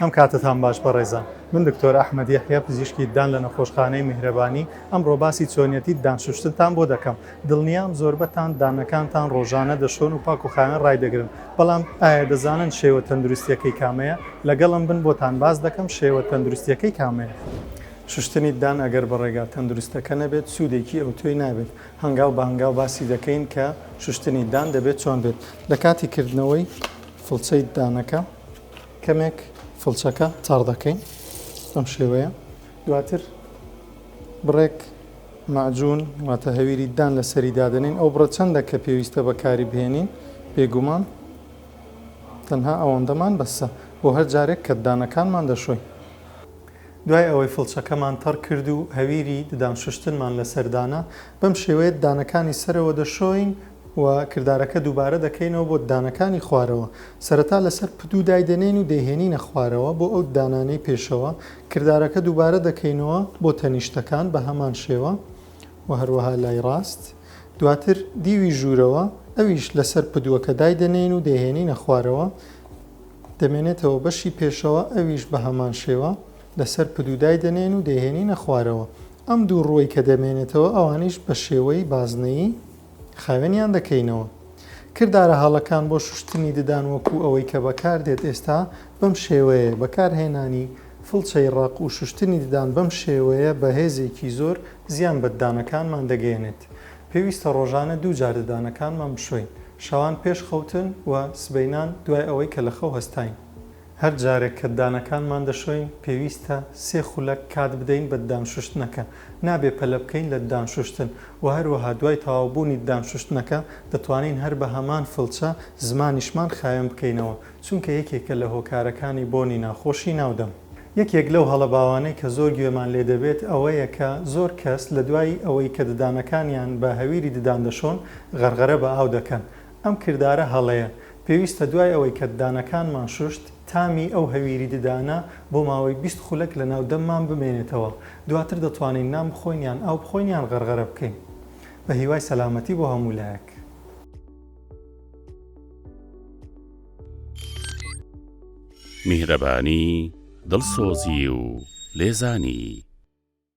هەم کاتتان باش بەڕێزان. من دکتۆر ئەحمەد یەحیا پزیشکی ددان لە نەخۆشخانەی میهرەبانی، ئەمڕۆ باسی چۆنیەتی ددان شوشتنتان بۆ دەکەم. دڵنیام زۆربەتان ددانەکانتان ڕۆژانە دەشۆن و پاک و خاوێن ڕایدەگرن، بەڵام ئایا دەزانن شێوە تەندروستیەکەی کامەیە؟ لەگەڵم بن بۆتان باس دەکەم شێوە تەندروستیەکەی کامەیە. شوشتنی ددان ئەگەر بە ڕێگا تەندروستەکە نەبێت سودێکی ئەوتۆی نابێت، هەنگاو بە هەنگاو باسی دەکەین کە شوشتنی ددان دەبێت چۆن بێت لە کاتی کردنەوەی فڵچەی ددانەکە. کەمێک فڵچەکە تاڕ دەکەین بەم شێوەیە دواتر بڕێک مەعجون واتە هەویری دان لە سەری دادنین ئەو بڕە چەندە کە پێویستە بەکاری بهێنین بێگومان تەنها ئەوەندەمان بەسە بۆ هەر جارێک کە ددانەکانمان دەشۆین دوای ئەوەی فڵچەکەمان تەڕ کرد و هەویری ددان شوشتنمان لەسەردانە بەم شێوەیە دانەکانی سەرەوە دەشۆین و کردارەکە دووبارە دەکەینەوە بۆ ددانەکانی خوارەوە، سەرەتا لەسەر پدوو دایدەنێین و دەیهێنینە خوارەوە بۆ ئەو ددانانەی پێشەوە، کردارەکە دووبارە دەکەینەوە بۆ تەنیشتەکان بە هەمان شێوە و هەروەها لای ڕاست، دواتر دیوی ژوورەوە ئەویش لەسەر پدووەکە دایدەنێین و دەیهێنینە خوارەوە دەمێنێتەوە بەشی پێشەوە ئەویش بە هەمان شێوە لەسەر پدوو دایدەنێین و دەیهێنینە خوارەوە ئەم دوو ڕووەی کە دەمێنێتەوە ئەوانیش بە شێوەی بازنەیی خاوێنیان دەکەینەوە. کردارە هەڵەکان بۆ شوشتنی ددان وەکوو ئەوەی کە بەکاردێت ئێستا بەم شێوەیەیە، بەکارهێنانی فڵچەی ڕەق و شوشتنی ددان بەم شێوەیە بە هێزێکی زۆر زیان بە ددانەکانمان دەگەیەنێت. پێویستە ڕۆژانە دوو جار ددانەکانمان بشۆین، شەوان پێش خەوتن و سبەینان دوای ئەوەی کە لە خەو هەستاین. هەر جارێک کە دانەکانمان دەشۆین، پێویستە سێ خولەک کات بدەین بە دانشوشتنەکە، نابێ پەلە بکەین لە دانشوشتن، وە هەروەها دوای تەواوبوونی دانشوشتنەکە دەتوانین هەر بە هەمان فڵچە زمانیشمان خاوێن بکەینەوە، چونکە یەکێکە لە هۆکارەکانی بۆنی ناخۆشی ناو دەم. یەکێک لەو هەڵە باوانەی کە زۆر گوێمان لێ دەبێت ئەوەیە کە زۆر کەس لە دوای ئەوەی کە ددانەکانیان بە هەویری ددان دەشۆن، غەرغەرە بە ئاو دەکەن، ئەم کردارە هەڵەیە، پێویستە دوای ئەوەی کە ددانەکانمان شوشت، تامی ئەو هەویری ددانە بۆ ماوەی بیست خولەک لە ناو دەممان بمێنێتەوە، دواتر دەتوانین نان بخۆین یان ئاو بخۆین یان غەرغەرە بکەین. بە هیوای سەلامەتی بۆ هەموو لایەک. میهرەبانی، دڵسۆزی و لێزانی.